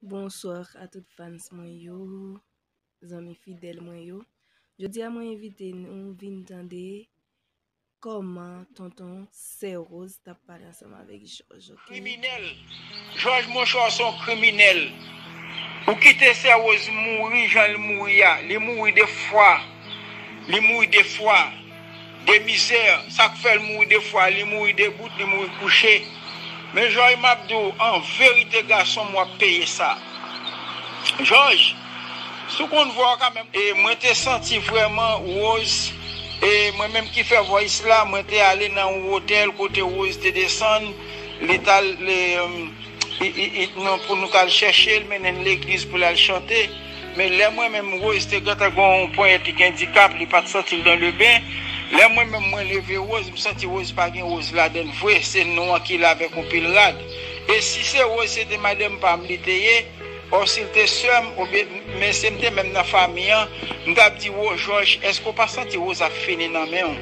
Bonsoir a tout fans mwen yo, zanmi fidèl mwen yo. Jodi a mwen invite nou vin tande koman tonton sè Rose tap pale ansanm avèk Jòj. Kriminèl, Jòj monchè w son kriminèl. Ou kite sè Rose mouri jan li mouri a, li mouri 2 fwa, li mouri 2 fwa. De mizè, sak fèl mouri de fwa li mouri debout li mouri kouche men jòj map diw an verite gasonm wap peye sa jòj si w konn vwa w ka menm Mwen te santi vrèman Rose e mwen menm ki fè voice la mwen te ale nan yon hotel kote Rose te desann li tal pou nou tal chèche l mennen l legliz pou l al chante. Men lè mwen menm Rose te gentan gen yon ponyèt li gen dikap li pat santil dan le ben lè mwen menm mwen leve Rose m santi Rose pa gen Rose ladann vre se non an ki la avèk yon pil rad e si se Rose se te madanm pam li te ye or sil te sèm oubyen men se m te menm nan fanmi an m tap di wo jòj èske ou pa santi Rose ap fini nan menw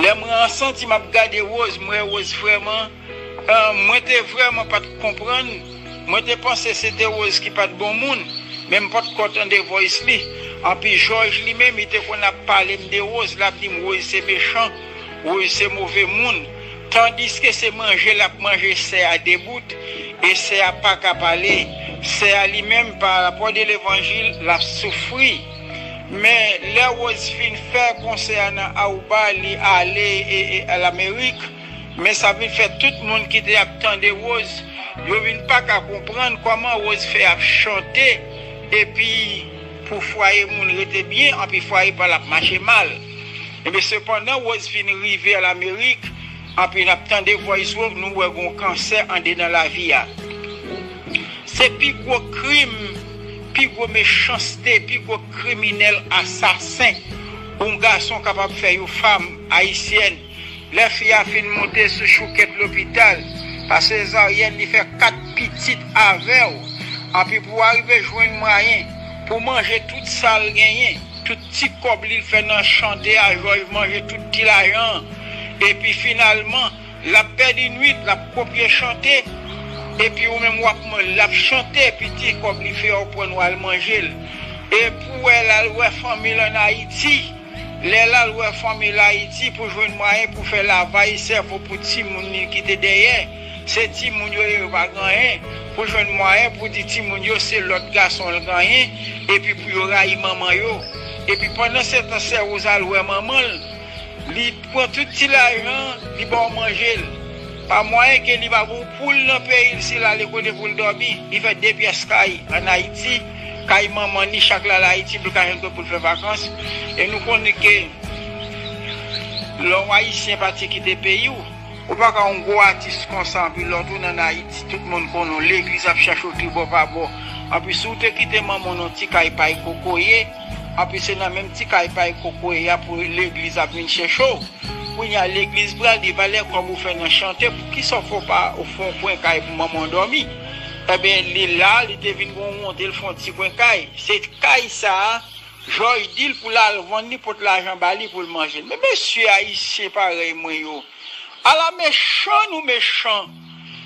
lè mwen an santi map gade Rose m wè Rose vrèman Mwen te vrèman pa t k konprann, mwen te panse se te Rose ki pa t bon moun, men m potko tande voice li. Anpi Jòj li menm li te konn ap pale m de Rose, l ap di m Rose se mechan, Rose se move moun. Tandiske se manje l ap manje sè a debout e sè a pa ka pale. Sè a li menm pa rapò de levanjil l ap soufri. Men lè Rose fin fè konsè a nan Aruba li ale Lamerik. Men sa vin fè tout moun ki te ap tande Rose yo vin pa ka konprann kòman Rose fè ap chante epi pou fwaye moun rete byen anpi fwaye pa l ap mache mal. Enben sepandan Rose fin rive an Amerik anpi n ap tande vòys Rose nou wè gen yon kansè andedan lavi a. Se pi gwo krim, pi gwo mechanste, pi gwo kriminèl asasen yon gason kapab fè yon fam ayisyèn. Lè fi a fin monte sou choukèt lopital pa sezaryèn li fè 4 pitit avèw anpi pou arive jwenn mwayen pou manje tout sal genyen tout ti kòb li fè nan chante a jòj manje tout ti lajan an epi finalman lap pèdi nwit lap kopye chante epi ou menm wap manje lap chante epi ti kòb li fè ou prann wal manjel epou wè lal wè fanmil an ayiti. Lè l al wè fanmi l Ayiti pou jwenn mwayen pou fè lavay sèvo pou timoun li ki te dèyè, se timoun yo lè yo pa gen anyen, pou jwenn mwayen pou di timoun yo se lòt gason l genyen epi pou yo rayi manman yo. Epi pandan se tan sè Woz al wè manman l, li pran tout ti lajan an, li ba w manje l. Pa mwayen ke li pa gen yon poul nan peyi l si l ale kote pou l dòmi, li fè de pyès kay ann Ayiti, Kay manman ni chak la al ayiti pou l ka jwenn kote pou l fè vakans e nou konnen ke lè w ayisyen pati kite peyi w ou pa ka yon gwo atis konsa anpi lè w tounen an ayiti tout moun konnen w legliz ap chache w tribò pa bò anpi si w te kite manman w nan yon ti kay pay kokoye anpi se nan menm ti kay pay kokoye a pou legliz ap vin chèche w kounye a legliz pral di valè kòb ou fè nan chante poukisa w fè w pa ou fè yon kwen kay pou manman w dòmi. Enben, li la, li te vin gen yon wonte, l fè yon ti kwen kay. Se kay sa a, Jòj di l pou l al vann li, pot lajan ba li pou l manje l. Men mesye Ayisyen parèy mwen yo! Ala mechan nou mechan!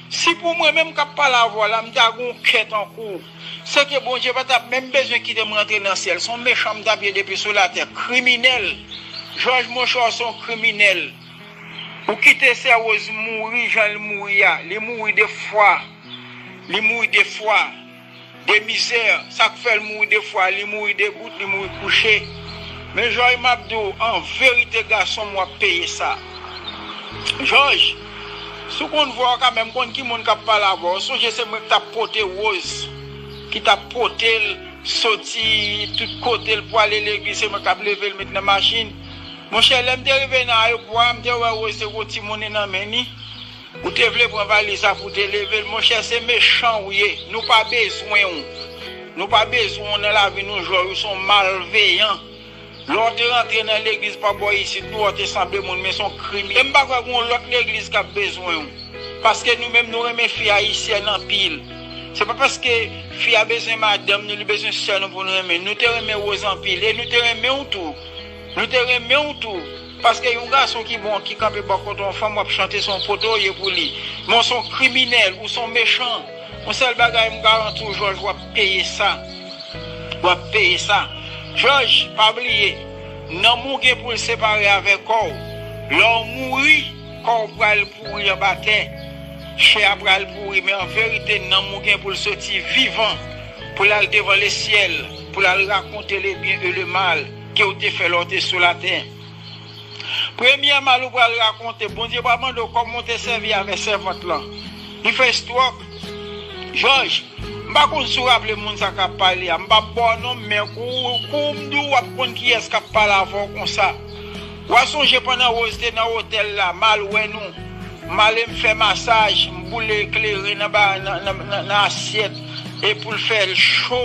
Si pou mwen menm k ap pale avè w la, m ta gen yon kè tankou w, sèke Bondye pa t ap menm bezwen kite m rantre nan syèl. Se yon mechan m t ap ye depi sou latè. Kriminèl! Jòj monchè w se yon kriminèl. Ou kite sè rose mouri janl mouri a li mouri de fwa li mouri de fwa de mizè sak fèl mouri de fwa li mouri debout li mouri kouche men jòj map di w an verite gasonm wap peye sa jòj si w konn vwa w ka menm konn ki moun kap pale avè w sonje se mwen ki tap pote rose ki tap potel soti tout kotel pwale legliz se mwen kap level met nan machin. Monchè lèm te rive nan ayopò a m te wè Rose te gen yon ti moune nan men li ou te vle pran valiz la pou te level monchè se mechan ou ye nou pa bezwen w nou pa bezwen w nan lavi nou jòj ou son malveyan lè w te rantre nan legliz pa bò isit nou wè w te sanble moun men son krimi em pa kwè gen yon lòt legliz kap bezwen w paske nou menm nou renmen fi ayisyèn anpil se pa paske fi a bezwen madanm nou li bezwen sè nou pou nou renmen nou te renmen Rose anpil e nou te renmen w tou. Nou te renmenw tou, paske yon gason ki bon ki kanpe bò kote yon fanm wap chante son pote ou ye pou li, men ou son kriminèl, ou son mechan, yon sèl bagay m garantiw jòj wap peye sa, wap peye sa jòj, pa bliye nanm ou gen poul separe avè kòw, lèw mouri kòw pral pouri anba tè, chè a pral pouri men anverite nanm ou gen poul soti vivan. Pou l al devan lesyèl, pou l al rakonte lebyen e lemal ke ou te fè lè ou te sou latè. Premyè mal ou pral rakonte, Bondye pral mande ou kòman ou te sèvi avè sèvant lan. Li fè stròk. Jòj, m pa konn si ou raple moun sa k ap pale a. M p ap ba w non m, men kou ou di w ap konn kiyès k ap pale avè w konsa. Wa sonje pandan Rose te nan otèl la mal wè nou male m fè masaj m boule kleren nan ba nan asyèt e poul fè l cho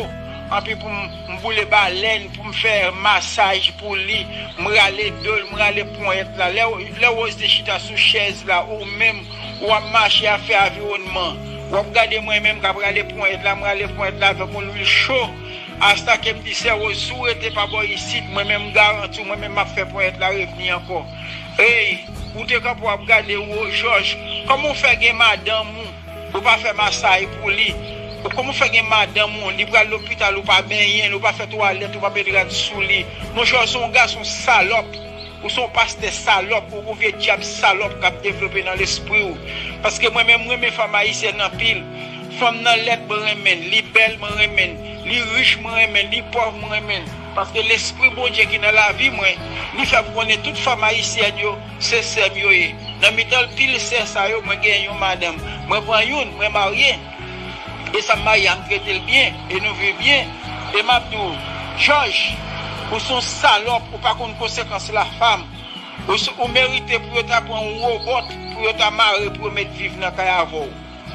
anpi pou m boule balèn pou m fè masaj pou li m rale do l m rale ponyèt la lè Rose te chita sou chèz la ou menm ou ap mache ap fè aviwonnman wap gade mwen menm kap rale ponyèt la m rale ponyèt la avèk yon lwil cho. Hasta kem dice Rose si w rete pa bò isit mwen menm m garanti w mwen menm map fè ponyèt la revni ankò eyy ou te kanpe wap gade ou oh jòj kòman w fè gen madanm ou ou pa fè masay pou li ou kòman w fè gen madanm ou li pral lopital ou pa benyen l ou pa fè twalèt ou pa met rad sou li monchè w son gason salòp. Ou son pastè salòp ou vye dyab salòp kap devlope nan lespriw paske mwen menm renmen fanm ayisyèn anpil fanm nan lèd mwen renmenn li bèl mwen renmenn li rich mwen renmenn li pòv mwen renmenn paske lespri Bondye ki nan lavi mwen li fèm konnen tout fanm ayisyèn yo se sèm yo ye nan mitan pil sè sa yo mwen gen yon madanm mwen pran youn mwen marye E sam marye a m tretel byen e nou viv byen e map di w jòj ou son salòp ou pa konn konsekans la fam ou merite pou yo ta pran yon robòt pou yo ta mare pou yo met viv nan kay avè w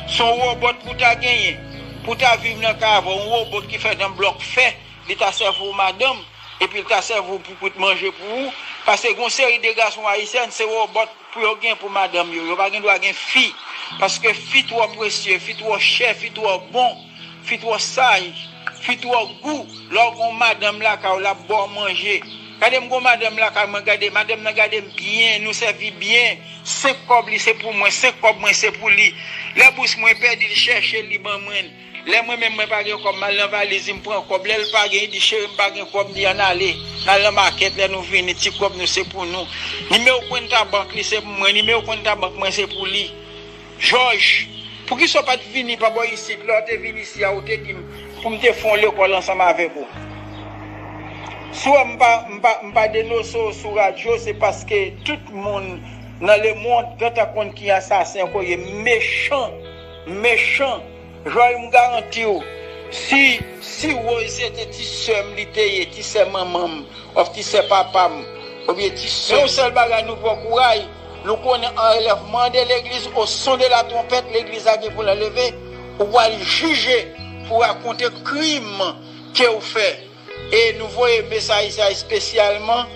son robòt pou ta genyen pou ta viv nan kay avè w yon robòt ki fèt an blòk fè li ta sèvi w madanm epi l ta sèvi w pou kout manje pou ou pase gon seri de gason ayisyen se robòt Pou yo gen pou madanm yo. Yo pa gen dwa gen fi. Paske fi twò presye, fi twò chè, fi twò bon, fi twò saj, fi twò gou. Lè w gen yon madanm lakay w, l ap ba w manje. Gade m gen yon madanm lakay mwen, gade, madanm nan gade m byen, nou sèvi byen. Senk kòb li se pou mwen, senk kòb mwen se pou li. Lè bous mwen pèdi, li chèche l, li ban mwen l. Lè mwen menm mwen pa gen kòb mal nan valiz li m pran kòb lèl pa gen li di cheri m pa gen kòb m di ann ale n al nan makèt lè nou vini ti kòb nou se pou nou nimewo kwenta bank li se pou mwen nimewo kwenta bank mwen se pou li jòj poukisa w pat vini pa bò isit lè w te vin isi a ou te di m pou m te fè yon lekòl ansanm avèk ou si w wè m pa m pa m pa denose w sou radyo se paske tout moun nan lemond gentan konn ki asasen ke w ye mechan. Mechan Joy m garantiw si si Rose se te ti sèm li te ye ti sè manmanm of ti sè papam obyen ti sè. Yon sèl bagay nou pran kouray nou konnen anlèvman de legliz o son de la twonpèt legliz la gen poul anleve ou pwal jije pou rakonte krim kew fè. E nou voye mesaj sa espesyalman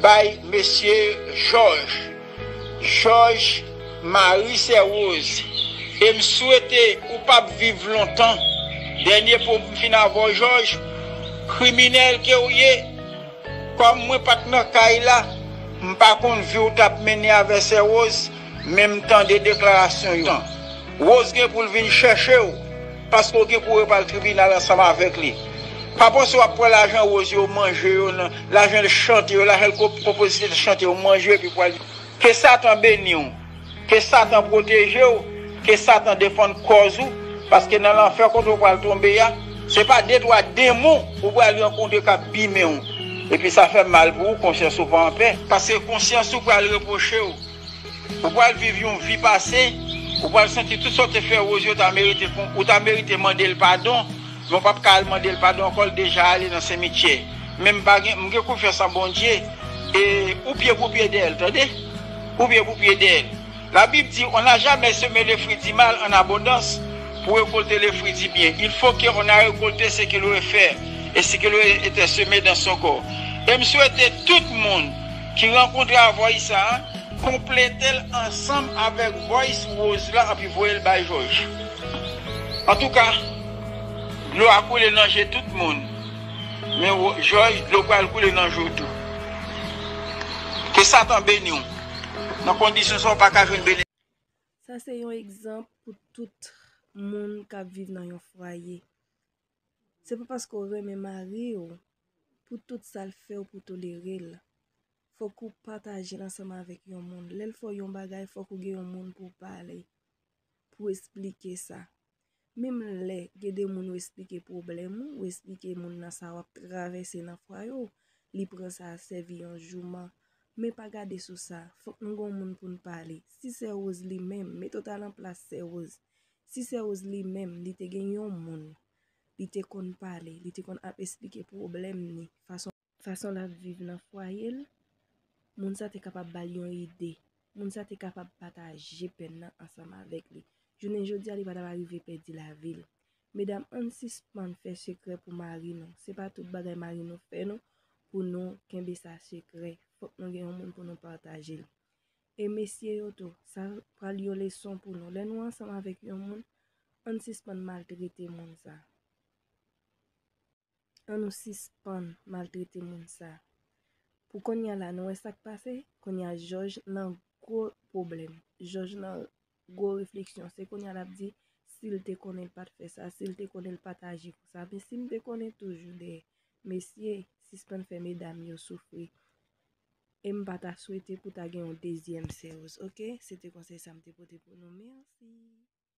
bay mesye Jòj, Jòj Mari Sè Woz, e m swete ou pa p viv lontan. Dènye po pou m fin avè w Jòj, kriminèl ke w ye, kòm mwen pa t nan kay la, m pa konn vi w t ap mennen avè Sè Woz, men m tande deklarasyon yo. Woz gen pou l vin chèche w. Paske w gen pou re pral tribinal ansanm avèk li. Pa panse wap pran lajan Rose yo ou manje yo nan, lajan l chante yo, lajan l konpozisyon l chante yo ou manje yo epi pral Ke satan beni w, ke satan pwoteje w, ke satan defann kòz ou, paske nan lanfè kote ou pral tonbe a, se pa de twa denmon ou pral rankontre kap bimen w, epi sa fè mal pou ou konsyans ou pa anpè. Paske konsyans ou pral repwoche w. Ou pral viv yon vi pase, ou pral santi tout sa w te fè Rosie ou ta merite ou ta merite mande l padon, men w pap ka al mande l padon ankò l deja ale nan semityè. Men m pa gen m gen konfyans an Bondye e ou pye pou pye dèyè l tande. Ou pye pou pye dèyè l. La bib di on n'a jamais semé le fruit du mal en abondance pour récolter le fruit du bien. Il faut que on a récolté ce qu'il aurait fait et ce qu'il aurait été semé dans son corps. E m swete tout moun Ti rankontre a voice sa konpletel ansanm avek voice Rose la anpi voyel bay jòj antouka dlo a koule nan je tout moun men jòj dlo pral koule nan je w tou ke satan beniw nan kondisyon sa w paka jwenn benediksyon. Sa se yon egzanp pou tout moun kap viv nan yon fwaye. Se pa paske ou renmen mari ou pou tout sa l fè ou pou w tolere l. Fòk ou pataje l ansanm avèk yon moun. Lè l fè w yon bagay, fòk ou gen yon moun pou w pale, pou w esplike sa. Menm lè gen de moun ou esplike pwoblèm ou, ou esplike moun nan sa w ap travèse nan fwaye ou, li pran sa sèvi yon jouman. Men pa gade sou sa, fòk nou gen yon moun pou n pale. Si sè Woz li menm, mete w ta nan plas sè Woz. Si se Rose li menm, li te gen yon moun li te konn pale, li te konn ap esplike pwoblèm ni, fason l ap viv nan fwaye l, moun sa te kapab ba l yon ide, moun sa te kapab pataje pèn nan ansanm avèk li. Jounen jodi a li pa t ap arive pèdi lavi l. Medam ann sispann fè sekrè pou mari nou, se pa tout bagay mari nou fè nou pou nou kenbe sa sekrè, fòk nou gen yon moun pou nou pataje l. E mesye yo tou, sa pral yon leson pou nou. Lè nou ansanm avèk yon moun, ann sispann maltrete moun sa. An nou sispann maltrete moun sa. Pou konya la, nou wè sa k pase? Konya jòj nan gwo pwoblèm. Jòj nan Gwo refleksyon. Se kounye a l ap di, si l te konnen l pa t fè sa, si l te konnen l pa t aji konsa. Men si m te konnen toujou de mesye, sispann fè medam yo soufri. E m pa ta swete pou ta gen yon dezyèm Serge. Ok? Se te konsèy sa m te pote pou nou. Mèsi!